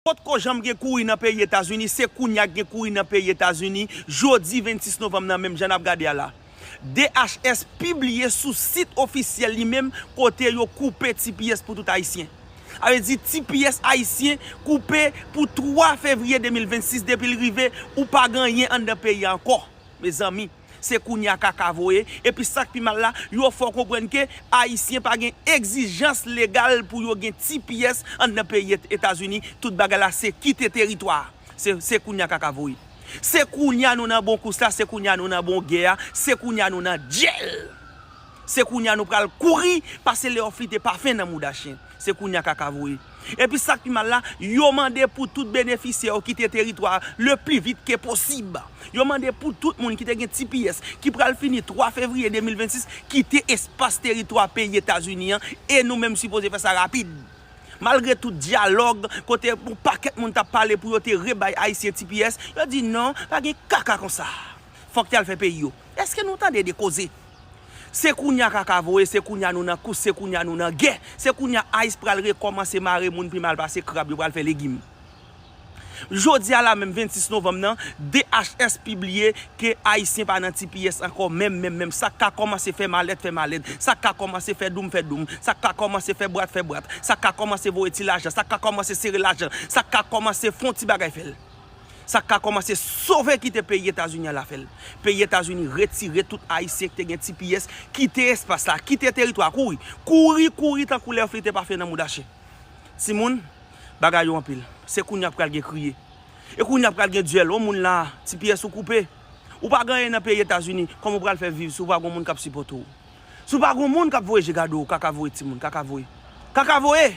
Potko janm gen kouri nan peyi Etazini, se kounya k gen kouri nan peyi Etazini, jodi 26 novanm nan menm jan n ap gade a la. DHS pibliye sou sit ofisyèl li menm kote yo koupe tps pou tout Ayisyen. Sa vle di tps Ayisyen koupe pou 3 fevriye 2026 depi l rive ou pa gen anyen anndan peyi a ankò mezanmi. Se kounya kaka voye, epi sak pi mal la, yo fè w konprann ke ayisyen pa gen egzijans legal pou yo gen ti pyès anndan peyi etazini, tout bagay la se kite teritwa a. Se se kounya kaka voye. Se kounya nou nan bon kous la, se kounya nou nan bon gè a, se kounya nou nan dyèl. Se kounya nou pral kouri pase leoflite pafen nan mouda chen. Se kounya kaka voye. Epi sak pi mal la, yo mande pou tout benefisyè yo kite teritwa a le pli vit ke posib. Yo mande pou tout moun ki te gen tps ki pral fini 3 fevriye 2026 kite espas teritwa peyi Etazini an e nou menm sipoze fè sa rapid. Malgre tout dyalòg kote yon pakèt moun tap pale pou yo te rebay ayisyen tps, yo di non, pa gen kaka konsa. Fòk yal fè peyi yo. Eske nou tande de koze? Se kounya kaka voye, se kounya nou nan kous, se kounya nou nan gè, se kounya ice pral rekòmanse mare moun pi mal pase krab, yo pral fè legim. Jodi a la menm 26 novanm nan, DHS pibliye ke Ayisyen pa nan tipiyès ankò menm menm menm, sa k ka kòmanse fè malèt fè malèt, sa k ka kòmanse fè doum fè doum, sa k ka kòmanse fè bwat fè bwat, sa k ka kòmanse voye ti lajan, sa k ka kòmanse sere lajan, sa k ka kòmanse fon ti bagay fè l. Sak ka komanse sove kite peyi etazini al afel. Peyi etazini retire tout ayisyen ki te gen tps kite espas la kite teritwa kouri kouri kouri tankou lè flite pa fè nan mouda chen. Timoun bagay yo anpil se kounya pral gen kriye e kounya pral gen duel on moun la tps ou koupe ou pa gen anyen nan peyi etazini koman ou pral fè viv si ou pa gon moun kap sipote w si ou pa gon moun kap voye je gade w kaka voye timoun kaka voye kaka voye.